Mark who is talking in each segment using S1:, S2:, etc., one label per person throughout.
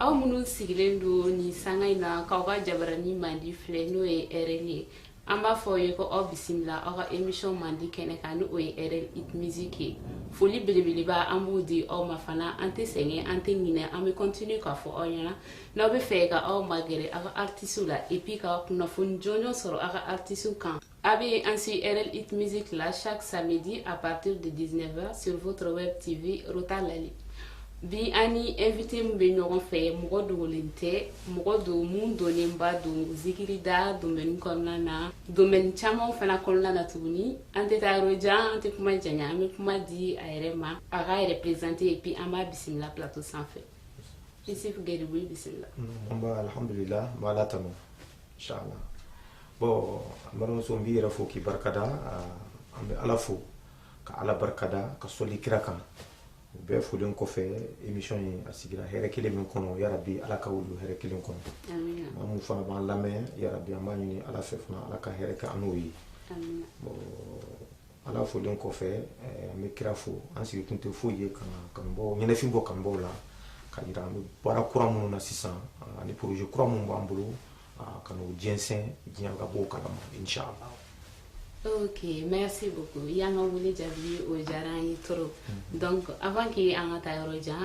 S1: aw minnu sigilen don nin sanga in na k'aw ka jabarani mandi filɛ n'o ye rl ye an b'a fɔ aw ye ko aw bisimila aw ka emission mandi kɛnɛ kan ni o ye rl hit music ye foli belebeleba an b'o di aw ma fana an tɛ sɛgɛn an tɛ ɲinɛ an bɛ continue k'a fɔ aw ɲɛna n'aw bɛ fɛ ka aw magɛrɛ aw ka artisiw la et puis ka kunnafoni jɔnjɔn sɔrɔ aw ka artisiw kan A bɛ ainsi RL Hit Music la chaque samedi à partir de 19h sur votre web TV Rota Lali. Bi an ni invité min bɛ ɲɔgɔn fɛ mɔgɔ dogolen tɛ mɔgɔ don mun dɔnnenba don zikirida domaine kɔnɔna na domaine caman fana kɔnɔna na tuguni an tɛ taa yɔrɔ jan an tɛ kuma janya an bɛ kuma di a yɛrɛ ma a k'a yɛrɛ présenter et puis an b'a bisimila plateau sanfɛ Isuf Garibu i bisimila. Nba alhamdulilahi
S2: n bɛ Ala tanu. inchallah bon n balimamuso n b'i yɛrɛ fo k'i barikada an bɛ ala fo ka ala barikada ka sɔli kira kan o bɛɛ folen kɔfɛ émission ye a sigira hɛrɛ kelen min kɔnɔ yarabi ala ka wulu hɛrɛ kelen kɔnɔ maa mun fana b'an lamɛn yarabi an b'a ɲini ala fɛ fana ala ka hɛrɛ kɛ an n'o ye bon ala folen kɔfɛ eh, n bɛ kira fo an sigi kun tɛ foyi ye ka kanubaw ɲɛnɛfin bɔ kanubaw la k'a yira an bɛ baara kura minnu na sisan ah, ani projet kura minnu b'an bolo ah, ka n'o jɛnsɛn diɲɛ ka bɔ o kalama inshallah
S1: Ok, merci beaucoup. I y'an ka wele jaabi o diyara an ye trop. Donc avant que an ka taa yɔrɔ jan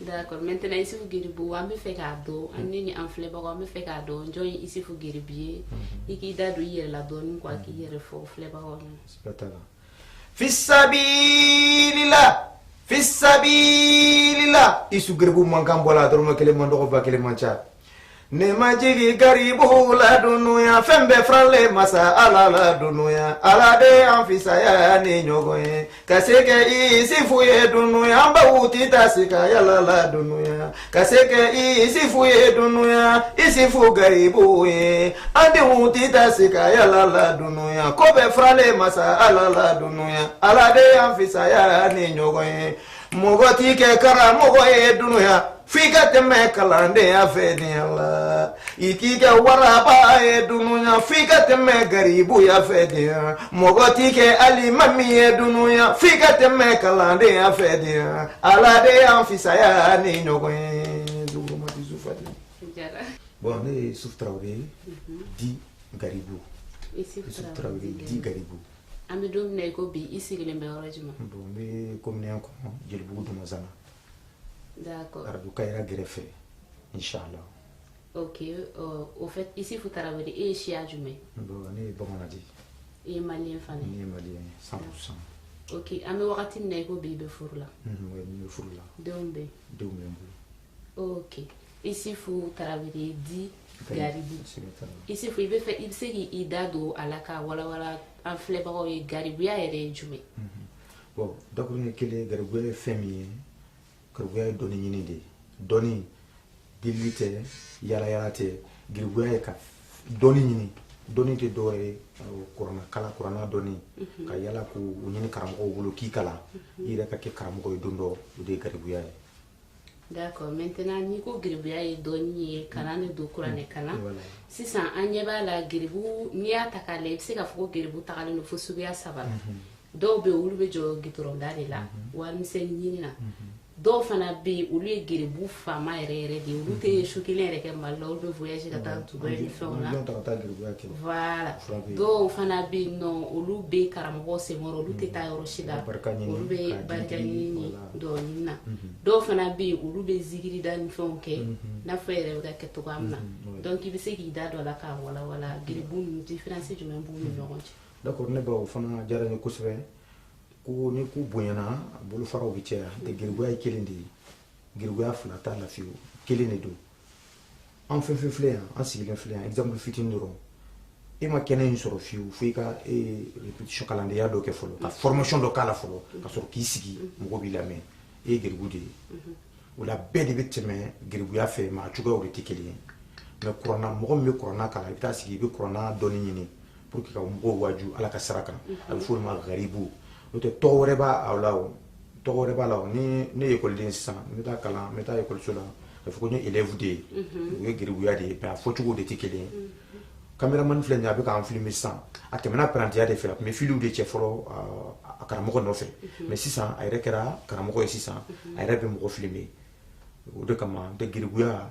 S1: d'accord maintenant Issoufou Garibou an bɛ fɛ k'a dɔn an ni ni an filɛbagaw an bɛ fɛ k'a dɔn jɔn ye Issoufou Garibu ye i k'i da don i yɛrɛ la dɔɔnin quoi k'i yɛrɛ fɔ filɛbagaw ɲɛna. Siga t'a
S2: la. Fisabilila fisabilila Issoufou Garibu mankan bɔra a dɔrɔmɛ kelen man dɔgɔ ba kelen man ca. Ne ma jigin garibu la dunuya fɛn bɛɛ faralen masa ala la dunuya ala de y'an fisaya ni ɲɔgɔn ye ka se kɛ Isifu ye dunuya an baw ti ta se ka yala la dunuya ka se kɛ Isifu ye dunuya Isifu garibu ye an denw ti ta se ka yala la dunuya ko bɛɛ faralen masa ala la dunuya ala de y'an fisaya ni ɲɔgɔn ye mɔgɔ t'i kɛ karamɔgɔ ye dunuya f'i ka tɛmɛ kalandenya fɛ diɲɛ la i t'i kɛ waraba ye dunuya f'i ka tɛmɛ garibuya fɛ diɲɛ mɔgɔ t'i kɛ alimami ye dunuya f'i ka tɛmɛ kalandenya fɛ diɲɛ ala de y'an fisaya ni ɲɔgɔn ye dugumati sufati bon ne Isufu Traoré dit garibu Isufu Traoré dit garibu an bɛ don
S1: min na i ko bi i sigilen bɛ yɔrɔ jumɛn bon n bɛ
S2: commune un kɔnɔ jelibugu
S1: dumanzana d'accord arajo kayira
S2: kɛrɛfɛ inchallah ok
S1: euh, au fait isufu tarawele e ye siya jumɛn bon ne ye
S2: bamanan de ye i ye
S1: maliyɛn fana ne ye maliyɛn ye
S2: 100 pourcent ok an bɛ wagati
S1: min na i ko bi i bɛ furu la mhm, oui, ne bɛ furu
S2: la denw bɛ yen denw
S1: bɛ n bolo ok isufu tarawele dit garibu isufu i bɛ fɛ i bɛ se k'i da don a la k'a walawala an filɛbagaw ye garibuya yɛrɛ ye jumɛn mhm. bon
S2: dakuruɲɛ kelen garibuya ye fɛn min ye garibuya ye dɔnni ɲini de ye dɔnni delili tɛ yalayala tɛ garibuya ye ka dɔnni ɲini dɔnni tɛ dɔwɛrɛ ye kurana kalan kurana dɔnni mhm. ka yala k'o ɲini karamɔgɔw bolo k'i kalan mhm. i yɛrɛ ka kɛ karamɔgɔ ye don dɔ o de ye garibuya ye
S1: D'accord maintenant n'i ko geribuya ye dɔnni ye kalan de don kuranɛ kalan Voilà. sisan an ɲɛ b'a la geribu n'i y'a ta k'a lajɛ i bɛ se k'a fɔ ko geribu tagalen don fo suguya saba la dɔw bɛ yen olu bɛ jɔ gitɔrɔnda de la warimisɛnni ɲini na dɔw fana bɛ yen olu ye geribu faama yɛrɛ yɛrɛ de ye olu tɛ su kelen yɛrɛ kɛ mali la olu bɛ voyage ka taa Dubaï ni fɛnw na Avion ta ka taa geribuya kɛ. voilà Fura bɛ yen. dɔw fana bɛ yen nɔ olu bɛ karamɔgɔ senkɔrɔ olu tɛ taa yɔrɔ si la Barika ɲini, olu bɛ k'a di barika di, ɲini voilà. dɔnni na dɔw fana bɛ yen olu bɛ zikiri da ni fɛnw kɛ n'a fɔ i yɛrɛ bɛ k'a kɛ cogoya min na donc i bɛ se k'i da don a la k'a walawala giribu ninnu différence jumɛn b'u ni ɲɔgɔn cɛ d'accord nba o
S2: fana diyara n ye kosɛbɛ ko ni ko bonyana a bolofaraw bɛ caya n'o tɛ giribuya ye kelen de ye giribuya fila t'a la fiyewu kelen de don an fɛn fɛn filɛ yan an sigilen filɛ yan exemple fitini dɔrɔn e ma kɛnɛ in sɔrɔ fiyewu fo i ka répétition kalandenya dɔ kɛ fɔlɔ ka formation dɔ k'a la fɔlɔ ka sɔrɔ k'i sigi mɔgɔ b'i lamɛn e ye geribu de ye o la bɛɛ de bɛ tɛmɛ geribuya fɛ mais a cogoyaw de tɛ kelen ye mais kurana mɔgɔ min bɛ kurana kalan i bɛ taa sigi i bɛ kurana dɔnni ɲini pour que ka mɔgɔw waaju ala ka sira kan a bɛ f'olu ma garibu n'o tɛ tɔgɔ wɛrɛ b'a la o tɔgɔ wɛrɛ b'a la o ni ne ye ekɔliden sisan n bɛ taa kalan n bɛ taa ekɔliso la a bɛ fɔ ko n ye élève de ye o ye garibuya de ye mais a fɔcogo de tɛ kelen ye kameramani filɛ nin ye a bɛ k'an filimi sisan a tɛmɛna parantiya de fɛ a tun bɛ filiw de cɛ fɔlɔ a karamɔgɔ nɔfɛ mais sisan a yɛrɛ kɛra karamɔgɔ ye sisan a yɛrɛ bɛ mɔgɔ filimi o de kama n'o tɛ garibuya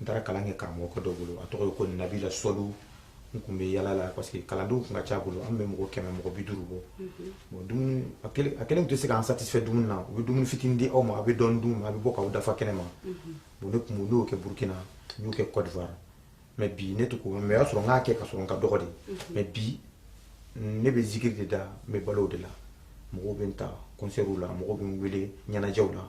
S2: n taara kalan kɛ karamɔgɔkɛ dɔ bolo a tɔgɔ ye ko nabila sɔlu n tun bɛ yala la parce que kalandenw tun ka ca a bolo an bɛ mɔgɔ kɛmɛ mɔgɔ bi duuru bɔ bon dumuni a kelen tun tɛ se k'an satisfɛ dumuni na u bɛ dumuni fitinin di aw ma a bɛ dɔɔnin dun a bɛ bɔ k'aw dafa kɛnɛ ma bon ne tun y'o kɛ burukina n y'o kɛ kɔdiwari mais bi ne tɛ ko mais o y'a sɔrɔ n k'a kɛ ka sɔrɔ n ka dɔgɔ de mais bi ne bɛ zikiri de da n bɛ balo o de la mɔgɔw bɛ n ta kɔnsɛriw la mɔgɔw bɛ n wele ɲɛnajɛw la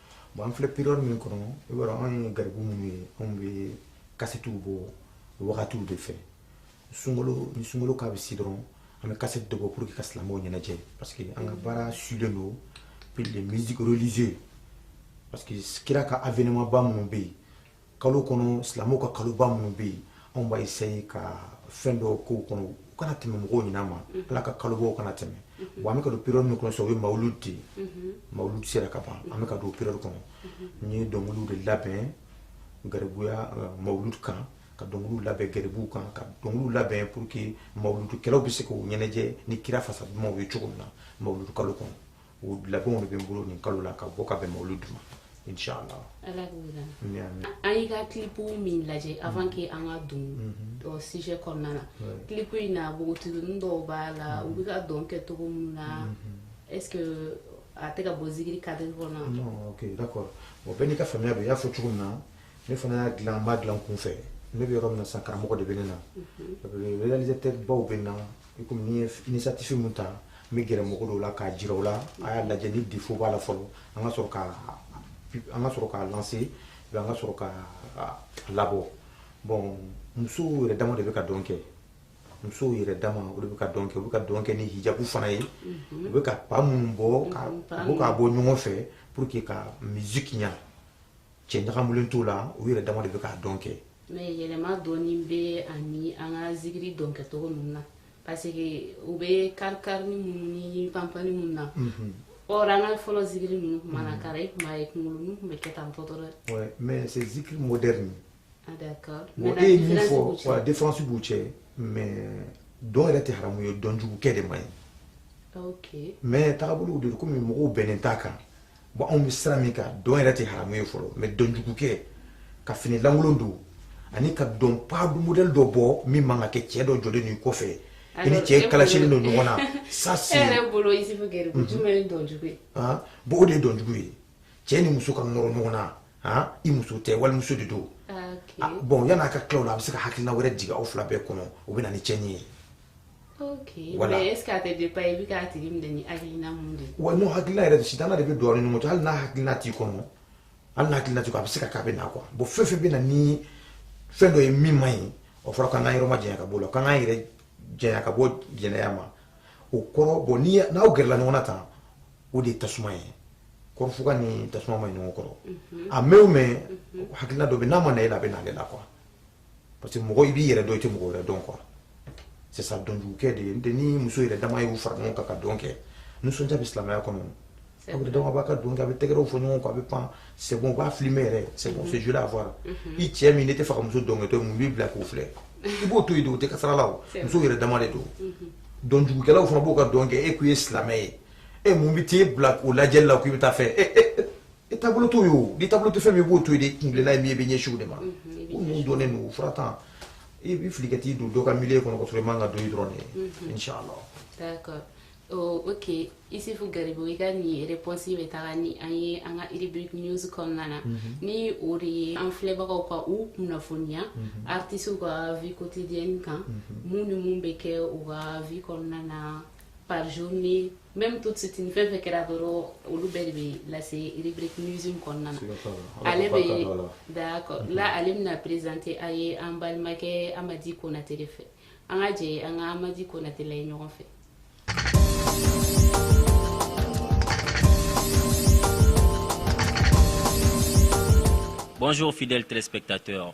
S1: bon an filɛ
S2: période min kɔnɔ i b'a dɔn anw ye garibu minnu ye anw bɛ kasetiw bɔ wagatiw de fɛ sunkalo ni sunkalo k'a bɛ se dɔrɔn an bɛ kasɛti dɔ bɔ pour que ka silamɛw ɲɛnajɛ parce que an ka baara sulen don puis les musiques religieux parce que kira ka avènement ba minnu bɛ yen kalo kɔnɔ silamɛw ka kaloba minnu bɛ yen anw b'a essaye ka fɛn dɔw k'o kɔnɔ u kana tɛmɛ mɔgɔw ɲina ma mhm. ala ka kalobaw kana tɛmɛ mhm. wa an bɛ ka don période min kɔnɔ sisan o ye mawuludi de ye mhm. mawuludi sera ka ban an bɛ ka don période kɔnɔ n ye dɔnkiliw de labɛn garibuya euh, mawuludi kan ka dɔnkiliw labɛn garibuw kan ka dɔnkiliw labɛn pour que mawuludikɛlaw bɛ se k'u ɲɛnajɛ ni kira fasa dumanw ye cogo min na mawuludi kalo kɔnɔ o labɛnw de bɛ n bolo nin kalo la ka bɔ ka bɛn mawuludi ma inshallah ala k'o dan
S1: amin amin an y'i ka kilipu min lajɛ avant que an ka don o sujet kɔnɔna na kilipu in na npogotiginin dɔw b'a la u bɛ ka dɔn kɛ cogo min na est ce que a tɛ ka bɔ zikiri cadre kɔnɔ non ok
S2: d'accord bon bɛɛ n'i ka faamuya bɛ i y'a fɔ cogo min na ne fana y'a dilan n m'a dilan kunfɛ ne bɛ yɔrɔ min na sisan karamɔgɔ de bɛ ne na réalisateur baw bɛ n na i komi ni n ye initiative min ta n bɛ gɛrɛ mɔgɔ dɔw la k'a jira u la a y'a lajɛ ni défaut b'a la fɔlɔ an ka sɔrɔ ka an ka sɔrɔ k'a lancer an ka sɔrɔ k'a labɔ bon musow yɛrɛ dama de bɛ ka dɔn kɛ musow yɛrɛ dama o de bɛ ka dɔn kɛ u bɛ ka dɔn kɛ ni hijabu fana ye mhm. u bɛ ka pas minnu bɔ mhm, u bɛ k'a bɔ ɲɔgɔn fɛ pour que ka musique ɲa cɛ ɲagamulen t'o la u yɛrɛ dama de bɛ ka dɔn kɛ mais
S1: yɛlɛma dɔɔni bɛ ani an ka zikiri dɔn kɛcogo ninnu na parce que u bɛ karikarini minnu ni panpani minnu na Or, an ka fɔlɔ zikiri ninnu tun mana kara i tun b'a ye kunkolonin tun bɛ kɛ tan tan dɔrɔn ouais mais c'est
S2: zikiri moderne
S1: ah d'accord bon e ye min
S2: fɔ wa différence b'u cɛ mais dɔn yɛrɛ tɛ haramu ye dɔn jugu kɛ de man ɲi ok mais
S1: tagabolow de don
S2: komi mɔgɔw bɛnnen t'a kan bon anw bɛ sira min kan dɔn yɛrɛ tɛ haramu ye fɔlɔ mais dɔnjugukɛ ka fini lankolon don ani ka dɔn pas de modèle dɔ bɔ min man ka kɛ cɛ dɔ jɔlen b'i kɔfɛ i ni cɛ kalasilen don ɲɔgɔn na ça c'est
S1: e yɛrɛ bolo
S2: Isufu Gɛri
S1: ko jumɛn ye dɔnjugu ye han
S2: bon o de
S1: ye dɔnjugu ye
S2: cɛ ni muso ka nɔrɔ ɲɔgɔn na han i muso tɛ walimuso de don ah, ah, bon yan'a ka tila o la a bɛ se ka hakilina wɛrɛ jigin aw fila bɛɛ kɔnɔ o bɛ na ni cɛnni ye
S1: ok voilà. mais est ce que a tɛ dépend i bɛ k'a tigi minɛ ni hakilina mun de ye. wa n'o hakilina yɛrɛ
S2: sitanɛ de bɛ don aw ni ɲɔgɔn cɛ hali n'a hakilina t'i kɔnɔ hali n'a hakilina t'i kɔnɔ a bɛ se ka k'a bɛ na quoi bon fɛn fɛn bɛ na ni fɛn dɔ ye min man ɲi o fɔra k'an k'an yɔrɔ ma janya ka bɔ o la k'an k'an yɛrɛ janya ka bɔ jɛnɛya ma o kɔrɔ bon ni n'aw gɛrɛla ɲɔgɔn na tan o de ye tasuma ye kɔrɔfuga ni tasuma man ɲi ɲɔgɔn kɔrɔ a mɛn o mɛn hakilina dɔ bɛ n'a ma na e la a bɛ na ale la quoi. parce que mɔgɔ i b'i yɛrɛ dɔn i tɛ mɔgɔ wɛrɛ dɔn quoi c'est ça dɔnkɛ de ye n'o tɛ ni muso yɛrɛ dama y'u fara ɲɔgɔn kan ka dɔn kɛ nisɔndiya bɛ silamɛya kɔnɔ aw yɛrɛ dama b'a ka dɔn kɛ a bɛ tɛgɛrɛw fɔ ɲɔgɔn kɔ a bɛ pan c'est bon u b'a filmer yɛrɛ c'est bon c'est joli à voir i cɛ min n'e t'a fɛ ka muso dɔnkɛtɔ ye mun b'i bila k'o filɛ i b'o to yen de o tɛ kasara la o muso yɛrɛ dama de don dɔnkɛlaw fana b'u ka dɔn kɛ e k'i ye silamɛ ye e mun bɛ t'e bila o lajɛli la k'i bɛ taa fɛ i taabolo t'o ye o n'i taabolo tɛ fɛn min i b'o to yen de i kuntilenna ye min ye i bɛ ɲɛsin o de ma ko ninnu dɔnnen don fura tan i bɛ fili ka t'i don dɔ ka milieu kɔnɔ ka sɔrɔ i man kan ka don yen dɔrɔn de mhm. inshallah d'accord
S1: Oh, ok isufu garibu i ka nin réponse bɛ taga ni an ye an ka rubrique news kɔnɔna na mhm. ni o de ye an filɛbagaw ka u kunnafoniya mhm. artisiw ka vie quotidienne kan mun ni mun bɛ kɛ u ka vie kɔnɔna na par journée même tout ce fɛn fɛn kɛra dɔrɔn olu bɛɛ de bɛ lase rubrique news in kɔnɔna na ale bɛ d'accord la ale bɛna présenter a ye an balimakɛ Amadi Konate de fɛ an ka jɛ an ka Amadi Konate lajɛ ɲɔgɔn
S3: fɛ Bonjour fidèles téléspectateurs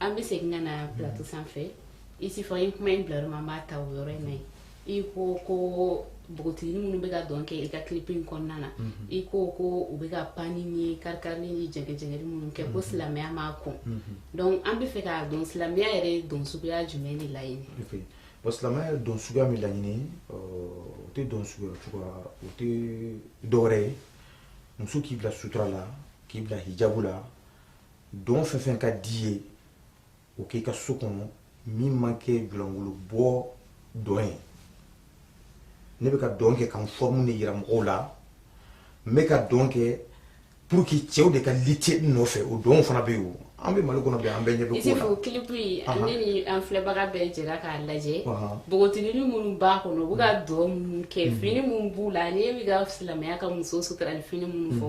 S1: an bɛ segin ka na plateau sanfɛ isufu i kuma in bila yɔrɔ min an b'a ta o yɔrɔ in na yen i ko ko npogotigini minnu bɛ ka dɔn kɛ i ka clip in kɔnɔna na i ko ko u bɛ ka panni ni karikarili ni jɛgɛjɛgɛli minnu kɛ ko silamɛya m'a kɔn donc an bɛ fɛ k'a dɔn silamɛya yɛrɛ ye dɔn suguya jumɛn de laɲini bon
S2: silamɛya ye dɔn suguya min laɲini o tɛ dɔn suguya cogoya o tɛ dɔwɛrɛ ye muso k'i bila sutura la k'i bila hijabu la dɔn fɛn fɛn ka d'i ye o k'i ka so kɔnɔ min man kɛ julankolo bɔ dɔn ye ne bɛ ka dɔn kɛ ka n forme de yira mɔgɔw la n bɛ ka dɔn kɛ pour que cɛw de ka lutter n nɔfɛ o dɔnw fana bɛ yen o an bɛ mali kɔnɔ bi an bɛɛ ɲɛ bɛ ko la. isifu clip
S1: in ne ni an filɛbaga bɛɛ jɛra k'a lajɛ npogotigini minnu b'a kɔnɔ u bɛ ka dɔn minnu kɛ fini minnu b'u la n'i bɛ ka silamɛya ka muso sutura ni fini minnu fɔ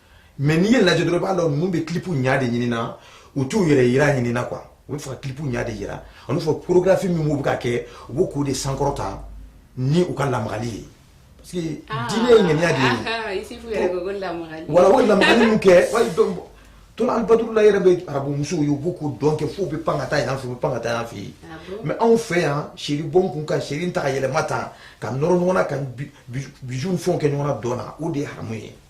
S2: mais n'i ye lajɛ dɔrɔn i b'a dɔn ninnu bɛ clip ɲa de ɲini na u t'u yɛrɛ yira ɲini na quoi u bɛ fɛ ka clip ɲa de yira olu fɔ chorégraphie min b'u bɛ ka kɛ u b'o k'o de sankɔrɔta ni u ka lamagali ye parce que ah. diinɛ ye ŋaniya de ye
S1: ah, voilà o lamagali
S2: min kɛ tona albadru la yɛrɛ bɛ arabu musow ye u b'u k'u dɔn kɛ f'u bɛ pan ka taa yan fɛ u bɛ pan ka taa yan fɛ yen ah mais anw fɛ yan seri bɔn kun ka seri tan ka yɛlɛma tan ka nɔrɔ ɲɔgɔn na ka bisou fɛnw kɛ ɲɔgɔn na dɔn na o de ye haramu ye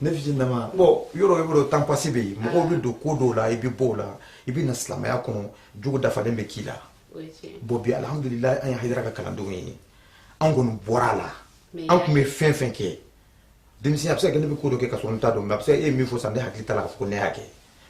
S1: ne
S2: fitininama bon yɔrɔ i b'a dɔn temps passé bɛ yen mɔgɔw bɛ don ko dɔw la i bɛ bɔ o la i bɛ na silamɛya kɔnɔ jogo dafalen bɛ k'i la bon bi alihamudulilayi an ye hayidara ka kalandenw ye an kɔni bɔra a la an tun bɛ fɛn fɛn kɛ denmisɛn a bɛ se ka kɛ ne bɛ ko dɔ kɛ ka sɔrɔ n t'a dɔn mais a bɛ se ka e ye min fɔ sisan ne hakili t'a la k'a fɔ ko ne y'a kɛ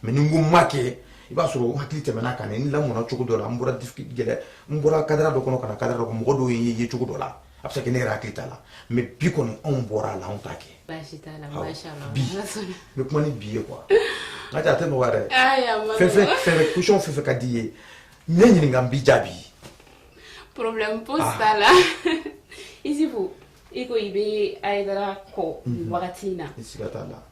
S2: mais ni n ko n m'a kɛ i b'a sɔrɔ hakili tɛmɛna a kan n lamɔna cogo dɔ la n bɔra gɛlɛ n bɔra cadre dɔ kɔnɔ ka na cadre dɔ kɔnɔ mɔgɔ dɔw ye n ye cogo dɔ la a bɛ se ka kɛ ne yɛrɛ hakili t'a la mais bi kɔni anw bɔra a la anw t'a kɛ bi n bɛ kuma ni bi ye quoi n ka a tɛ nɔgɔya dɛ fɛn fɛn fɛn fɛn question fɛn fɛn ka di i ye ne ɲininka n b'i jaabi
S1: problème pose t'a la isifu i ko i bɛ ayidara kɔ mhm. wagati in na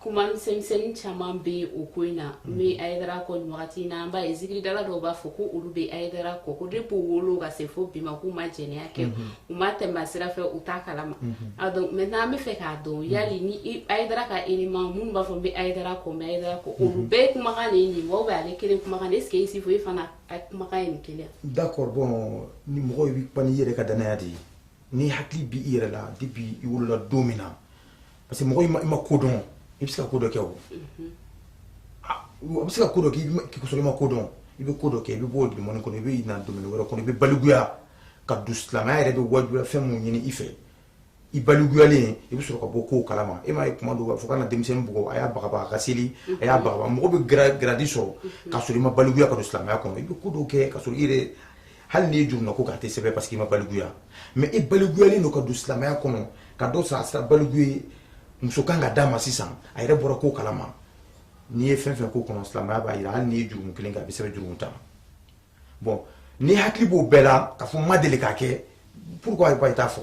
S1: kuma misɛnmisɛnnin caman bɛ o ko in na n mhm. bɛ ayidara kɔ nin wagati in na an b'a ye zikiridala dɔw b'a fɔ ko olu bɛ ayidara kɔ ko depuis u wolo ka se fo bi ma k'u ma jɛnɛya kɛ mhm. u ma tɛmɛ a sira fɛ u t'a kalama a donc maintenant an bɛ fɛ k'a dɔn yali ni ayidara ka élément minnu b'a fɔ n bɛ ayidara kɔ n bɛ ayidara kɔ olu bɛɛ ye kumakan de ye nin wa ou bien ale kelen kumakan de est ce que isifo e fana a kumakan ye nin kelen ye d'accord bon
S2: ni mɔgɔ i bɛ kuma n'i yɛrɛ ka danaya de ye n'i hakili b'i yɛrɛ la depuis i wolola don min na parce que mɔgɔ i ma ko dɔn i bɛ se ka ko dɔ kɛ o a bɛ se ka ko dɔ kɛ k'a sɔrɔ i ma ko dɔn i bɛ ko dɔ kɛ i bɛ bɔ o domaine kɔnɔ i bɛ na domaine wɛrɛ kɔnɔ i bɛ balikuya ka don silamɛya yɛrɛ bɛ wajibiya fɛn minnu ɲini i fɛ i balikuyalen i bɛ sɔrɔ ka bɔ kow kalama e m'a ye kuma dɔw b'a fɔ kana denmisɛnnin bugɔ a y'a bagabaga a ka seli a y'a bagabaga mɔgɔ bɛ grade sɔrɔ ka sɔrɔ i ma balikuya ka don silamɛya kɔnɔ i bɛ ko dɔw kɛ ka sɔrɔ i yɛrɛ hali n'i ye jurumunako k'a tɛ sɛbɛn parce que i ma baliguya mais i baliguyalen don ka don silamɛya kɔnɔ ka dɔ sɔrɔ a sera baligu ye muso kan ka d'a ma sisan a yɛrɛ bɔra ko kalama n'i ye fɛn fɛn ko kɔnɔ silamɛya b'a yira hali n'i ye jurumu kelen kɛ a bɛ sɛbɛn jurumu tan bon n'i hakili b'o bɛɛ la k'a fɔ n ma deli k'a kɛ pourquoi i t'a fɔ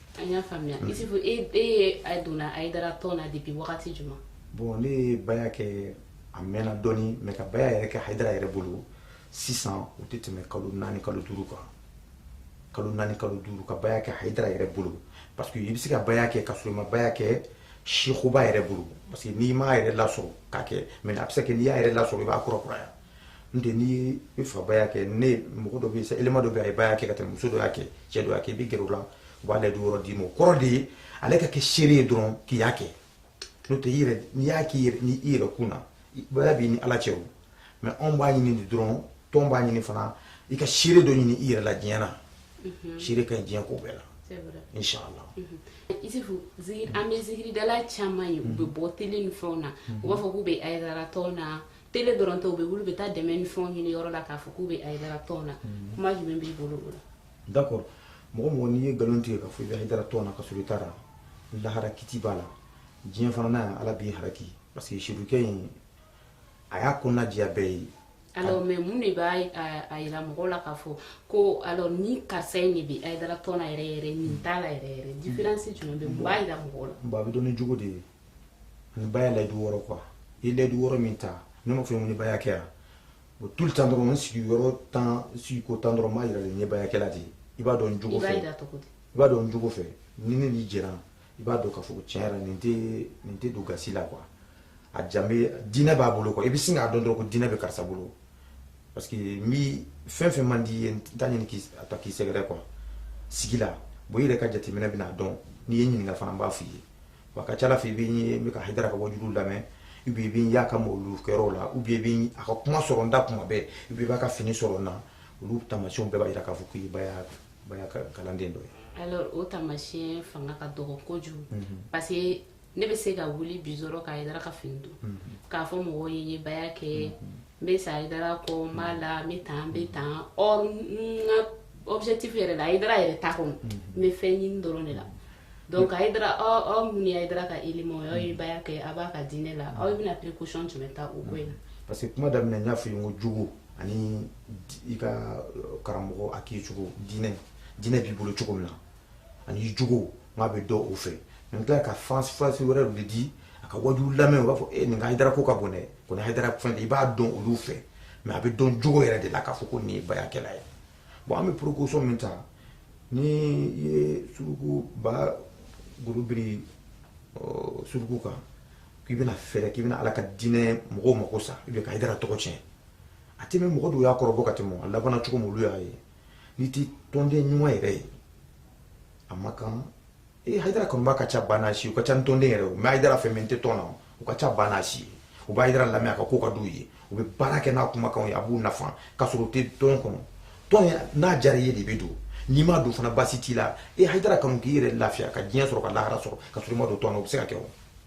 S2: An y'a faamuya
S1: mm. Isufu e e yɛrɛ donna Hayidara tɔn na depuis wagati jumɛn? Bon ne
S2: ye baya kɛ a mɛnna dɔɔni mais ka baya yɛrɛ kɛ Hayidara yɛrɛ bolo sisan o tɛ tɛmɛ kalo naani kalo duuru kan kalo naani kalo duuru ka baya kɛ Hayidara yɛrɛ bolo parce que i bɛ se ka baya kɛ ka sɔrɔ i ma baya kɛ sekuba yɛrɛ bolo parce que n'i m'a yɛrɛ lasɔrɔ k'a kɛ mais a bɛ se ka kɛ n'i y'a yɛrɛ lasɔrɔ i b'a kurakuraya n tɛ n'i bɛ fɛ baya kɛ ne mɔgɔ dɔ bɛ yen sa élément dɔ bɛ yen a ye baya kɛ ka tɛmɛ muso dɔ y'a kɛ cɛ dɔ y'a kɛ i bɛ gɛrɛ o la u bɛ layidu wɔɔrɔ d'i ma o kɔrɔ de ye ale ka kɛ seere ye dɔrɔn k'i y'a kɛ n'o tɛ i yɛrɛ n'i y'a k'i yɛrɛ ni i yɛrɛ kun na baya b'i ni ala cɛ o mais anw b'a ɲini de dɔrɔn tɔn b'a ɲini fana i ka seere dɔ ɲini i yɛrɛ la diɲɛ na mhm. seere ka ɲi diɲɛ ko bɛɛ la inshallah mhm. isifu
S1: an bɛ zikiridala caman ye u bɛ bɔ télé ni fɛnw na u b'a fɔ k'u bɛ hayidara tɔn na télé dɔrɔn tɛ u bɛ wuli u bɛ taa dɛmɛ ni fɛnw ɲini yɔrɔ la k'a fɔ k'u bɛ hayidara tɔn na mm. kuma jumɛn b'i bolo o la
S2: d'accord mɔgɔ mɔgɔ n'i ye nkalon tigɛ k'a fɔ i bɛ hayidara tɔn na ka sɔrɔ i taara lahara kiti b'a la diɲɛ fana na ala b'i haraki parce que sirukɛ in a y'a kɔnɔna diya bɛɛ ye alors mais
S1: mun de b'a yira mɔgɔw la k'a fɔ ko alors ni karisa in de bɛ hayidara tɔn na yɛrɛ yɛrɛ nin t'a la yɛrɛ yɛrɛ mm. différence jumɛn bɛ mun b'a yira mɔgɔw la bon a bɛ dɔn ni jogo de ye
S2: ni baya layidu wɔɔrɔ quoi i ye layidu wɔɔrɔ min ta ne m'a fɔ i ye ko ni baya kɛra bon tout le temps dɔrɔn n sigi yɔrɔ tan sigi ko tan dɔrɔn n b'a yira de n ye bayakɛla de ye i b'a dɔn n jogo fɛ i b'a dɔn n jogo fɛ ni ne n'i jɛra i b'a dɔn k'a fɔ ko tiɲɛ yɛrɛ nin tɛ nin tɛ don gasi la quoi a jan bɛ diinɛ b'a bolo quoi i bɛ sin k'a dɔn dɔrɔn ko diinɛ bɛ karisa bolo parce que n bi fɛn fɛn man di i ye n t'a ɲini k'i a ta k'i sɛgɛrɛ quoi sigi la bon i yɛrɛ ka jateminɛ bɛn'a dɔn n'i ye ɲininka fana n b'a f'i ye wa ka ca la fɛ i bɛ n ye ka hayidara ka wajuli lamɛn ou bien i bɛ n y'a ka mawulu kɛyɔrɔw la ou bien i bɛ a ka kuma sɔrɔ n da kuma bɛɛ ou bien i b'a ka fini sɔrɔ n na olu taamasiyɛnw bɛɛ b'a jira k'a fɔ k'i baya baya kalanden dɔ ye. alors o
S1: taamasiyɛn fanga ka dɔgɔ kojugu. Mhm. parce que ne bɛ se ka wuli bi dɔrɔn ka hayidara ka fini don. Mhm. k'a fɔ mɔgɔw ye n ye baya kɛ. Mhm. n bɛ sa hayidara kɔ n b'a la n bɛ tan n bɛ tan or n ka objectif yɛrɛ la hayidara yɛrɛ t'a kɔnɔ n bɛ fɛn ɲini dɔrɔn de la donc hayidara aw aw minnu ye hayidara ka élément aw ye baya kɛ a b'a ka diinɛ la aw bɛna précaution jumɛn ta o ko in na parce que kuma
S2: daminɛ n y'a fɔ i ye n ko jogo ani i ka karamɔgɔ a k'i cogo diinɛ diinɛ b'i bolo cogo min na ani jogo n k'a bɛ dɔn o fɛ n tila ka fansi fansi wɛrɛ de di a ka waju lamɛn u b'a fɔ e nin ka hayidara ko ka bon dɛ ko ni hayidara fɛn de i b'a dɔn olu fɛ mais a bɛ dɔn jogo yɛrɛ de la k'a fɔ ko nin ye bayakɛla ye bon an bɛ précaution min ta ni i ye suruku ba golo biri suruku kan k'i bɛna fɛɛrɛ k'i bɛna ala ka diinɛ mɔgɔw mako sa i bɛ ka hayidara tɔgɔ tiɲɛ a tɛ mɛɛn mɔgɔ dɔw y'a kɔrɔbɔ ka tɛmɛ a labanna cogo min olu y'a ye n'i tɛ tɔnden ɲuman yɛrɛ ye a ma kan ee hayidara kanubaa ka ca banna si u ka ca ni tɔnden yɛrɛ o n bɛ hayidara fɛ mais n tɛ tɔn na u ka ca banna si ye u bɛ hayidara lamɛn a ka ko ka d'u ye u bɛ baara kɛ n'a kumakanw ye a b'u nafa k'a sɔrɔ u tɛ tɔn kɔnɔ tɔn ye n'a diyara i ye de bɛ don n'i ma don fana baasi t'i la ee hayidara kanu k'i yɛrɛ lafiya ka diɲɛ sɔrɔ ka lahara sɔrɔ ka sɔrɔ i ma don tɔn na o bɛ se ka kɛ o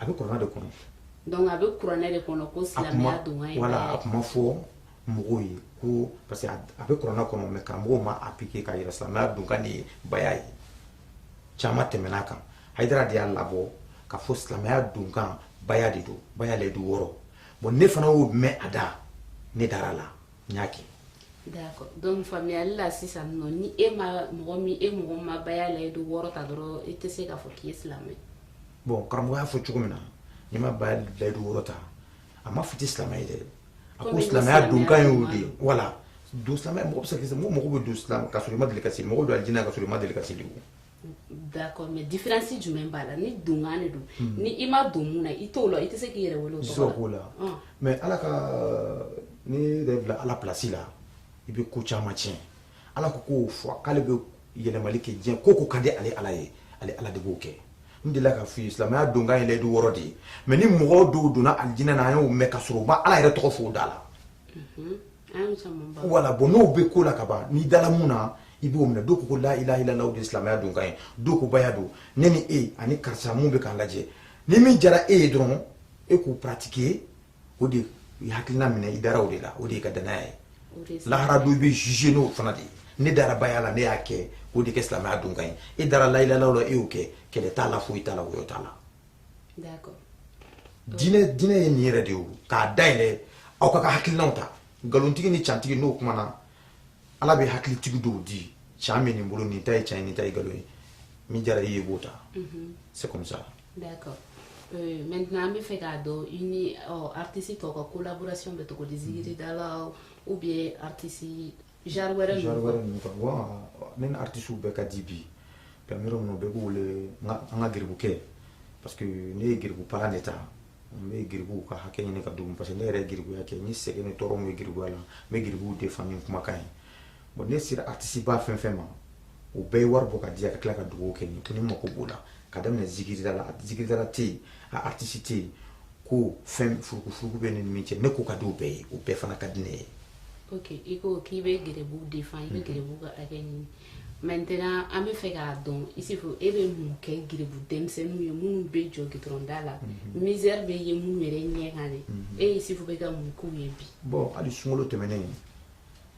S2: a bɛ kuranɛ de kɔnɔ donc a
S1: bɛ kuranɛ de kɔnɔ ko silamɛya donkan ye baya ye voilà a kuma
S2: fɔ mɔgɔw ye ko parce que a bɛ kuranɛ kɔnɔ mais karamɔgɔw ma appliquer ka yira silamɛya donkan de ye baya ye caman tɛmɛn'a kan hayidara de y'a labɔ ka fɔ silamɛya donkan baya de don baya layidu wɔɔrɔ bon ne fana y'o mɛn a da ne dara la n y'a kɛ
S1: D'accord. Donc faamuyali la sisan nɔ ni e ma mɔgɔ min e mɔgɔ ma baya layidu wɔɔrɔ ta dɔrɔn e tɛ se k'a fɔ k'i ye silamɛ bon karamɔgɔ
S2: y'a fɔ cogo min na n'i ma baya layidu wɔɔrɔ ta a ma fɔ i tɛ silamɛ ye dɛ a ko comme silamɛya silamɛya donkan y'o de ye mhm. voilà donc silamɛya mɔgɔ bɛ se ka kɛ mɔgɔ mɔgɔ bɛ don silamɛ ka sɔrɔ i ma deli ka seli mɔgɔ bɛ don alijinɛ na ka sɔrɔ i ma deli ka seli o
S1: D'accord mais différence jumɛn b'a la ni donkan de don hmm. ni i ma don mun na i t'o la i tɛ se k'i yɛrɛ wele o tɔgɔ la ah. mais ala
S2: kan'i yɛrɛ bila ala place la i bɛ ko caman tiɲɛ ala ko k'o fɔ k'ale bɛ yɛlɛmali kɛ diɲɛ ko ko ka di ale ala ye ale ala de b'o kɛ n delila k'a f'i ye silamɛya donkan ye layidu wɔɔrɔ de ye mais ni mɔgɔ dɔw donna alijinɛ na an y'o mɛn ka sɔrɔ u ma ala yɛrɛ tɔgɔ fɔ u da la mhm. voilà bon n'o bɛ ko la ka ban n'i dala mun na i b'o minɛ dɔw ko ko la ilaha illallah o de ye silamɛya donkan ye dɔw ko baya don ne ni e ani karisa mun bɛ k'an lajɛ ni min diyara e ye dɔrɔn e k'o pratiquer o de ye hakilina minɛ i dara o de la o de y'i ka danaya ye lahara don i bɛ juger n'o fana de ye ne dara baya la ne y'a kɛ k'o de kɛ silamɛya donkan ye e dara la ilaha illallah la e y'o kɛ kɛlɛ t'a la foyi t'a la woyo t'a la d'accord diinɛ diinɛ ye nin yɛrɛ de ye k'a dayɛlɛ aw ka ka hakilinaw ta nkalonitigi ni cantigi n'u kumana ala bɛ hakilitigi dɔw di can bɛ nin bolo nin ta ye can ye nin ta ye nkalon ye min diyara i ye i b'o ta mhm. c'est comme ça
S1: d'accord Euh, maintenant an bɛ fɛ k'a dɔn i ni artiste tɔw ka collaboration bɛ cogo di zikiridalaw ou bien artiste Genre wɛrɛ ninnu quoi. ninnu quoi
S2: bon ne ni artistes bɛɛ ka di bi puis an bɛ yɔrɔ min na bɛɛ b'u wele n ka an ka geribukɛ parce que ne ye geribu palan de ta n bɛ geribuw ka hakɛ ɲini ka d'u ma parce que ne yɛrɛ ye geribuya kɛ n ye sɛgɛn ni tɔɔrɔ min ye geribuya la n bɛ geribuw defend ni n kumakan ye bon ne sera artiste ba fɛn fɛn ma u bɛɛ ye wari bɔ k'a di yan ka tila ka dugawu kɛ n ye ko ne mako b'o la ka daminɛ zikiridala zikiridala tɛ yen a artiste tɛ yen ko fɛn furukufuruku bɛ ne ni min cɛ ne ko ka di u bɛɛ ye u bɛɛ fana ka di ne ye ok i
S1: ko k'i bɛ geribuw defend i bɛ mhm. geribuw ka hakɛ ɲini maintenant an bɛ fɛ k'a dɔn i se fo e bɛ mun kɛ geribu denmisɛnninw ye minnu bɛ jɔ gitɔrɔn da la mhm. misère bɛ ye minnu yɛrɛ ɲɛ kan de mhm. e ye se fo bɛ ka mun k'u ye bi. bon hali
S2: sunkalo tɛmɛnen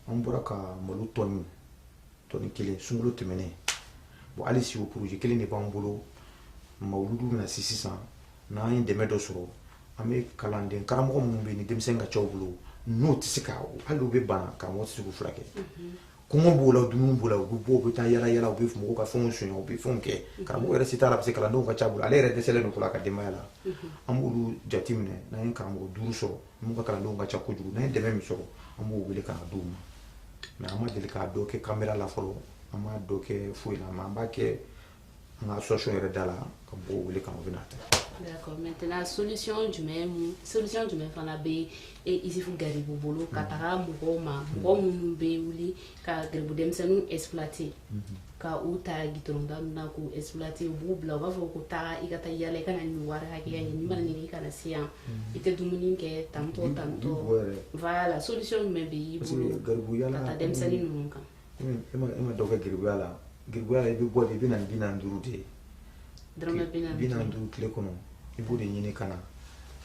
S2: an bɔra ka malo tɔni tɔni kelen sunkalo tɛmɛnen bon hali si o projet kelen de b'an bolo mawuludu bɛna se sisan n'an ye dɛmɛ dɔ sɔrɔ. an bɛ kalanden karamɔgɔ minnu bɛ ni denmisɛn ka ca u bolo n'o tɛ se ka hali u bɛ bana karamɔgɔ tɛ se k'u furakɛ kɔngɔ b'o la dumuni b'o la u bɛ bɔ u bɛ taa yala yala u bɛ mɔgɔw ka fɛnw sonya u bɛ fɛnw kɛ karamɔgɔ yɛrɛ se t'a la parce que kalandenw ka ca a bolo ale yɛrɛ dɛsɛlen don ko la a ka denbaya la an b'olu jate minɛ n'an ye karamɔgɔ duuru sɔrɔ minnu ka kalandenw ka ca kojugu n'an ye dɛmɛ min sɔrɔ an b'o wele ka na d'u ma mais an ma deli k'a dɔ kɛ kamera la fɔlɔ an m'a dɔ kɛ foyi la mais an b'a kɛ an ka association yɛrɛ da la ka mɔgɔw wele ka u bɛ n'a ta
S1: d'accord maintenant solution jumɛn mun solution jumɛn fana bɛ isufu garibu bolo ka taga mɔgɔw ma mɔgɔ minnu bɛ wuli ka garibu denmisɛnninw exploiter ka u ta gitɔrɔnda ninnu na k'u exploiter u b'u bila u b'a fɔ ko taa i ka taa yaala i ka na nin wari hakɛya ɲini n'i ma na nin kɛ i kana se yan i tɛ dumuni kɛ tantɔ tantɔ voilà solution jumɛn bɛ y'i bolo ka taa denmisɛnnin ninnu kan e ma e ma
S2: dɔ kɛ garibuya la garibuya la i bɛ bɔ de i bɛ na ni bi naani duuru de ye dɔrɔmɛ
S1: bi naani bi naani duuru
S2: tile kɔnɔ i b'o de ɲini ka na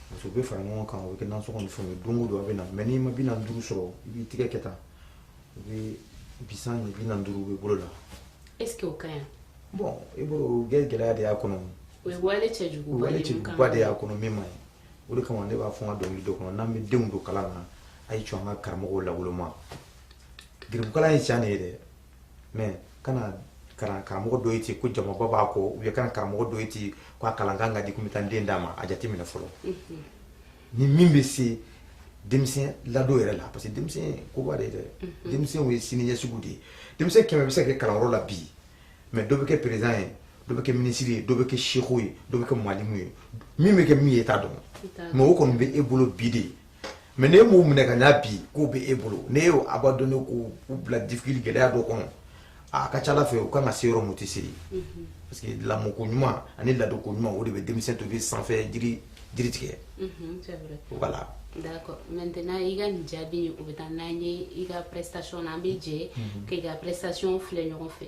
S2: parce que u bɛ fara ɲɔgɔn kan o bɛ kɛ nasɔngɔ ni fɛnw ye don o don a bɛ na mais n'i ma bi naani duuru sɔrɔ i b'i tigɛ kɛ tan u bɛ bisan ɲɛ bi naani duuru bɛ bolo la est ce que o
S1: ka ɲi bon i bolo
S2: o bɛ gɛlɛya de y'a kɔnɔ o ye wale
S1: o cɛjuguba wale de ye min kan cɛjuguba de y'a kɔnɔ
S2: min man ɲi o de kama ne b'a fɔ n ka dɔnkili dɔ kɔnɔ n'an bɛ denw don kalan na a ye jɔ an ka karamɔgɔw lawoloma garibukalan ye tiɲɛ de ye dɛ mais kana kalan karamɔgɔ dɔ ye ten ko jamaba b'a kɔ ou bien kana karamɔgɔ dɔ ye ten ko a kalan kan ka di ko n bɛ taa n den d'a ma a jate minɛ fɔlɔ ni min bɛ se denmisɛn ladon yɛrɛ la parce que denmisɛn koba de ye dɛ denmisɛnw ye siniɲɛsigiw de ye denmisɛn kɛmɛ bɛ se ka kɛ kalanyɔrɔ la bi mais dɔ bɛ kɛ président ye dɔ bɛ kɛ minisiri ye dɔ bɛ kɛ seku ye dɔ bɛ kɛ malimu ye min bɛ kɛ min ye i t'a dɔn mais o kɔni bɛ e bolo bi de ye mais n'e m'u minɛ ka ɲa bi k'u bɛ e bolo n'e y'u abandonner k'u bila difficulté gɛlɛya dɔ kɔnɔ a ka ca ala fɛ u ka kan ka se yɔrɔ min u tɛ se yen parce que lamɔko ɲuman ani ladonko ɲuman o de bɛ denmisɛn to bɛ sanfɛ jiri tigɛ
S1: voilà maintenant i ka nin jaabi o bɛ taa n'an ye i ka prestation na an bɛ jɛ k'i ka prestation filɛ ɲɔgɔn fɛ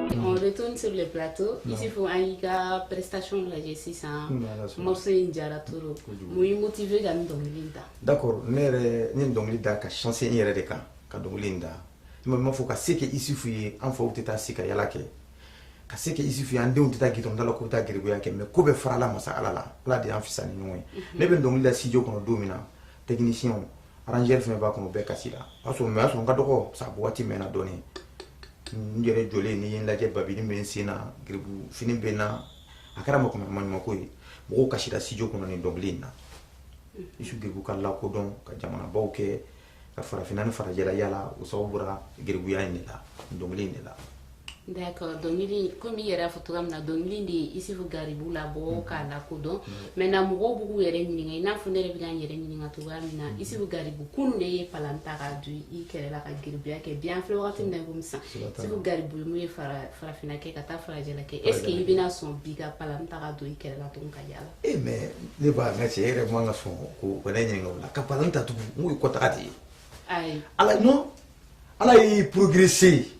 S1: On retourne sur le plateau. Non. Isufu, an y'i ka prestation lajɛ sisan, morceau in diyara trop. Mun y'i motiver ka dɔnkili in da? D'accord, ne
S2: ye nin dɔnkili da ka sinsin n yɛrɛ de kan, ka dɔnkili da. I ma ma fɔ ka se kɛ Isufu ye, an faw tɛ taa se ka yala kɛ. Ka se kɛ Isufu ye, an denw tɛ taa gitɔrɔnda la k'u taa garibuya kɛ, mais ko bɛɛ farala masa Ala la. Ala de y'an fisa ni ɲɔgɔn ye. Ne bɛ dɔnkili da studio kɔnɔ don min na, technicien arrangeur fɛn b'a kɔnɔ bɛɛ kasira o y'a sɔrɔ mais o y'a sɔrɔ n ka dɔgɔ sabu waati mɛnna dɔɔni n yɛrɛ jɔlen n'i ye n lajɛ babini bɛ n sen na garibu fini bɛ n na a kɛra mɔgɔ maɲumako ye mɔgɔw kasira studio kɔnɔ nin dɔnkili in na isufu garibu ka lakodɔn ka jamanabaw kɛ ka farafinna ni farajɛla yala o sababu bɔra garibuya in de la dɔnkili in de la
S1: D'accord dɔnkili komi i yɛrɛ y'a fɔ cogoya min na dɔnkili de ye Isufu Garibu labɔ mm-hmm. k'a lakodɔn mm-hmm. maintenant mɔgɔw b'u k'u yɛrɛ ɲininka i n'a fɔ ne yɛrɛ bɛ ka n yɛrɛ ɲininka cogoya min na mm-hmm. Isufu Garibu kunun de ye palan ta k'a don i kɛrɛ la ka garibuya kɛ bi an filɛ wagati min na i komi sisan Isufu Garibu ye mun ye farafinna kɛ ka taa farajɛla kɛ est ce que i bɛna sɔn bi ka palan ta ka don i kɛrɛ la tugun ka yaala e eh, mais ne
S2: b'a n ka cɛ e yɛrɛ man ka sɔn ko ka ne ɲininka o la ka palan ta tugun n k'o ye kɔtaga de ye ala
S1: non
S2: ala ye progresser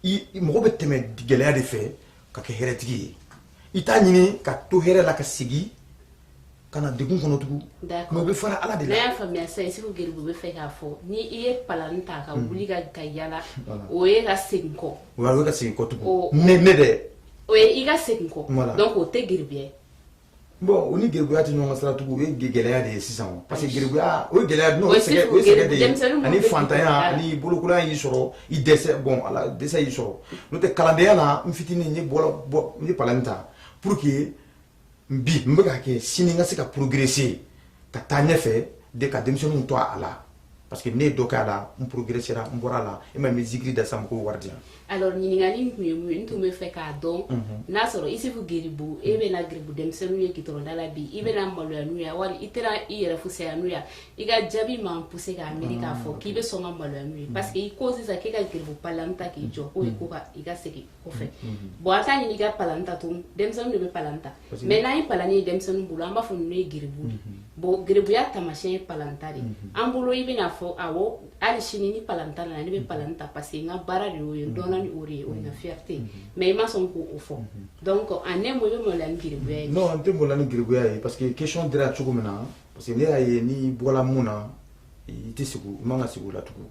S2: i mɔgɔ bɛ tɛmɛ gɛlɛya de fɛ ka kɛ hɛrɛtigi ye i t'a ɲini ka to hɛrɛ la ka segin ka na degun kɔnɔ tugun mais o bɛ fara ala de la y'a faamuya sisan
S1: Isufu geribu bɛ fɛ k'a fɔ ni i ye palan ta ka hmm. wuli ka ka yala o ye ka segin kɔ o ye ka segin kɔ
S2: tugun ne ne dɛ o ye i ka
S1: segin kɔ donc o tɛ geribuya ye
S2: bon o ni geribuya tɛ ɲɔgɔn sira tugun o ye gɛlɛya de ye sisan o parce que geribuya o ye gɛlɛya n'o sɛgɛn o ye sɛgɛn de ye ani fantanya ani bolokolonya y'i sɔrɔ i dɛsɛ bon ala dɛsɛ y'i sɔrɔ n'o tɛ kalandenya la n fitinin n ye bɔlɔ bɔ n ye palani ta pour que bi n bɛ ka kɛ sini n ka se ka progresser ka taa ɲɛfɛ de ka denmisɛnninw to a la parce que ne ye dɔ k'a la n progressera n bɔra a la e ma n bɛ zikiri da sa mɔgɔw wari di yan. alors ɲininkali
S1: in tun ye mun ye n tun bɛ fɛ k'a dɔn n'a sɔrɔ isufu geribu e bɛ na geribu denmisɛnninw ye gitɔrɔnda la bi i bɛ na maloya n'u ye wali i tɛna i yɛrɛ fusaya n'u ye i ka jaabi b'an pousser k'a miiri k'a fɔ k'i bɛ sɔn ka maloya n'u ye parce que i ko sisan k'e ka geribu palan ta k'i jɔ k'o ye ko ka i ka segin kɔfɛ bon an t'a ɲini i ka palan ta tun denmisɛnninw de bɛ palan ta mais n'an ye palani ye denmisɛnnin bolo an b'a fɔ ninnu ye geribu de mhm. bon geribuya taamasiyɛn ye palanta de ye mhm. an bolo i bɛna fɔ awɔ hali sini ni palanta nana ne bɛ mhm. palani ta parce que n ka baara de y'o ye n dɔnna ni o de ye o ye n ka fierté ye mais i ma sɔn k'o fɔ donc en un mot i bɛ maloya ni geribuya ye non n tɛ maloya ni
S2: geribuya ye parce que question dira cogo min na parce que ne y'a ye n'i bɔra min na i tɛ segin i man ka segin o la tugun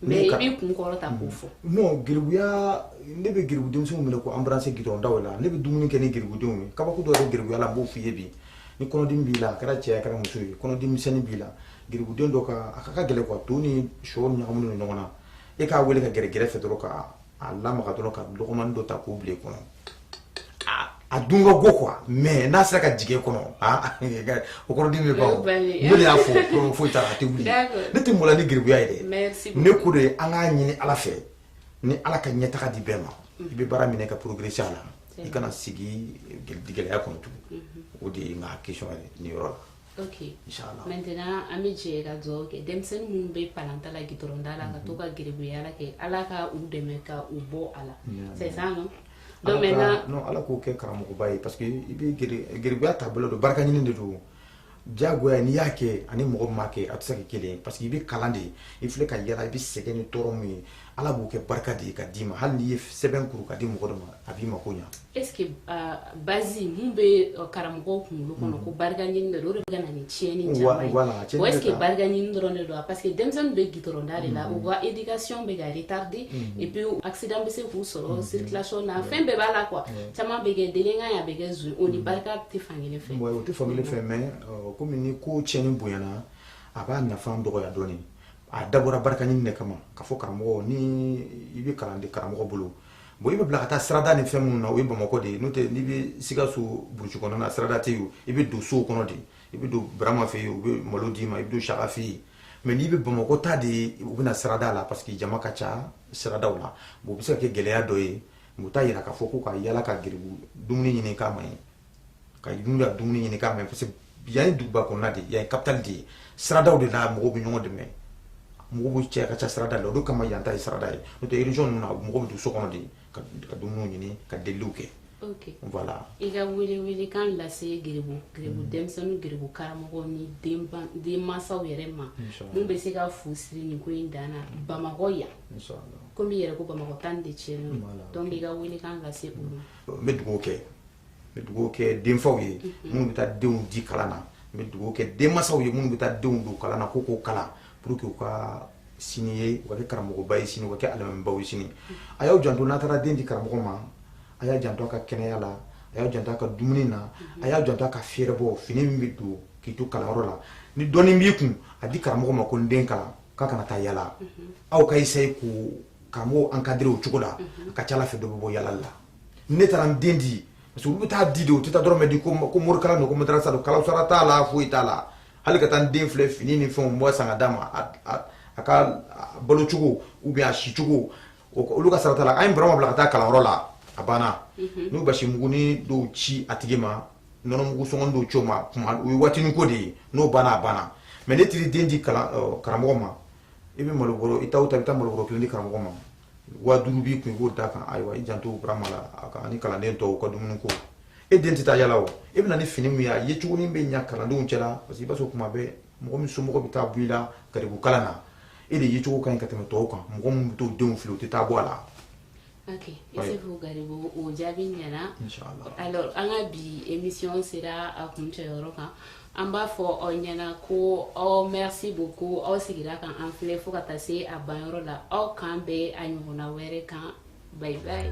S1: Mais i b'i kun kɔrɔta k'o fɔ. Non geribuya
S2: ne bɛ geribu denmisɛnninw minɛ k'u embrasser goudron daw la, ne bɛ dumuni kɛ ni geribudenw ye, kabako dɔ de bɛ geribuya la n b'o f'i ye bi, ni kɔnɔdimi b'i la a kɛra cɛ ye a kɛra muso ye, kɔnɔdimi misɛnnin b'i la geribuden dɔ ka a ka gɛlɛn quoi to ni shɔ ɲagaminen don ɲɔgɔn na, e k'a wele ka gɛrɛ gɛrɛfɛ dɔrɔn ka a lamaga dɔrɔn ka lɔgɔmani dɔ ta k'o bila i kɔnɔ a dun ka go quoi mais n'a sera ka jigin kɔnɔ o kɔnɔdimi bɛ ban ne de y'a fɔ foyi t'a la a tɛ wuli ne tɛ maloya ni geribuya ye dɛ ne ko de ye an k'a ɲini ala fɛ ni ala ka ɲɛtaga di bɛɛ ma mm. i bɛ baara minɛ ka progresser a la i kana sigi gɛlɛya kɔnɔ tugun mm-hmm. o de ye n ka question ye nin yɔrɔ la ok
S1: inshallah maintenant an bɛ jɛ ka dugawu kɛ denmisɛnnin minnu bɛ palanta la gitɔrɔnda la ka to ka geribuya kɛ ala ka u dɛmɛ ka u bɔ a la c'est ça non donc maintenant non ala k'u kɛ
S2: karamɔgɔba ye parce que i bɛ geribuya taabolo don barika ɲini de don diyagoya n'i y'a kɛ ani mɔgɔ min m'a kɛ a tɛ se ka kɛ kelen ye parce que i bɛ kalan de i filɛ ka yala i bɛ sɛgɛn ni tɔɔrɔ min ye ala b'o kɛ barika de ye ka d'i ma hali n'i ye sɛbɛn kuru ka di mɔgɔ dɔ ma a b'i mako ɲa est ce que
S1: euh, base mun bɛ euh, karamɔgɔw kunkolo kɔnɔ mm-hmm. ko barika ɲini de don o de bɛ ka na ni tiɲɛni caman ye wa est ce que barika ɲini dɔrɔn de don wa parce que denmisɛnnin bɛ gitɔrɔnda de la mm-hmm. u ka éducation bɛ ka retarder mm-hmm. et puis accident bɛ se k'u sɔrɔ circulation na fɛn bɛɛ b'a la quoi caman bɛ kɛ délinquant ye a bɛ kɛ zon o ni barika tɛ fankelen fɛ o tɛ fankelen fɛ mais
S2: euh, komi ni ko tiɲɛni bonyana a b'a nafa dɔgɔya dɔɔnin a dabɔra barika ɲini de kama k'a fɔ karamɔgɔ ni i bɛ kalan di karamɔgɔ bolo bon i bɛ bila ka taa sirada ni fɛn minnu na o ye bamakɔ de ye n'o tɛ n'i bɛ sikaso burusi kɔnɔna na sirada tɛ yen i bɛ don sow kɔnɔ de i bɛ don burama fɛ yen u bɛ malo d'i ma i bɛ don saka fɛ yen mais n'i bɛ bamakɔ ta de ye u bɛ na sirada la parce que jama ka ca siradaw la bon o bɛ se ka kɛ gɛlɛya dɔ ye o t'a jira k'a fɔ ko ka yala ka geribu dumuni ɲini k'a man ɲi ka n'u ka dumuni ɲini k'a man ɲi parce que yan ye duguba kɔnɔna de ye yan ye capitale de ye siradaw de la mɔgɔw bɛ ɲɔgɔn dɛmɛ mɔgɔw bɛ cɛ ka ca sirada la o de kama yan ta ye sirada ye n'o tɛ région ninnu na mɔgɔw bɛ don so kɔnɔ de ka ka dumuniw ɲini ka deliliw kɛ ok voilà
S1: i ka welewelekan lase geribu geribu mm. denmisɛnninw geribu karamɔgɔ ni denmansaw yɛrɛ ma mun bɛ se ka fu siri nin ko in dan na mm. bamakɔ yan komi i yɛrɛ ko bamakɔ ta de tiɲɛnen donc i ka welekan lase olu ma n bɛ dugawu kɛ
S2: bɛ dugawu kɛ denfaw ye minnu bɛ taa denw di kalan na n bɛ dugawu kɛ denbaw ye minnu bɛ taa denw don kalan na ko k'u kalan pour que u ka sini ye u ka kɛ karamɔgɔba ye sini u ka kɛ alimamibaw ye sini a y'aw janto n'a taara den di karamɔgɔ ma a y'a janto a ka kɛnɛya la a y'a janto a ka dumuni na a y'a janto a ka fɛɛrɛbɔ fini min bɛ don k'i to kalanyɔrɔ la ni dɔɔnin b'i kun a di karamɔgɔ ma ko n den kalan k'a kana taa yala la aw ka essayer ka karamɔgɔ encadrer o cogo la a ka ca a la fɛn dɔ bɛ bɔ yala la ne taara n den di parce que olu bɛ taa di de u tɛ taa dɔrɔmɛ di ko morikalan don ko madarasa don kalosara t'a la foyi t'a la hali ka taa n den filɛ fini ni fɛnw dɔ san ka d'a ma a ka balo cogo ou bien a si cogo olu ka sarati la an ye burama bila ka taa kalanyɔrɔ la a banna mhm. n'u basi muguni dɔw ci a tigi ma nɔnɔ mugu sɔngɔ dɔw ci o ma kuma o ye waatinin ko de ye n'o banna a banna mais n'i taara den di karamɔgɔ ma i bɛ malobɔrɔ i taa o taa i bɛ taa malobɔrɔ kelen di karamɔgɔ ma waa duuru b'i kun i k'o d'a kan ayiwa i janto burama la a ka ani kalanden tɔw ka dumuni ko e den tɛ taa yala o e bɛ na ni fini min ye a yecogonin bɛ ɲa kalandenw cɛla parce que i b'a sɔrɔ kuma bɛɛ mɔgɔ min somɔgɔ bɛ taa bɔ i la garibu kalan na e de yecogo ka ɲi ka tɛmɛ tɔw kan mɔgɔ min bɛ t'o denw fili o tɛ taa bɔ a la
S1: Ok, Isufu Garibu, o jaabi ɲɛna. Inch'Allah. Alors,
S2: an ka bi
S1: émission sera a kuncɛyɔrɔ kan. Hein. an b'a fɔ aw ɲɛ na ko aw merci beaucoup aw sigira ka an filɛ fo ka taa se a banyɔrɔ la aw k'an bɛn a ɲɔgɔnna wɛrɛ kan bye bye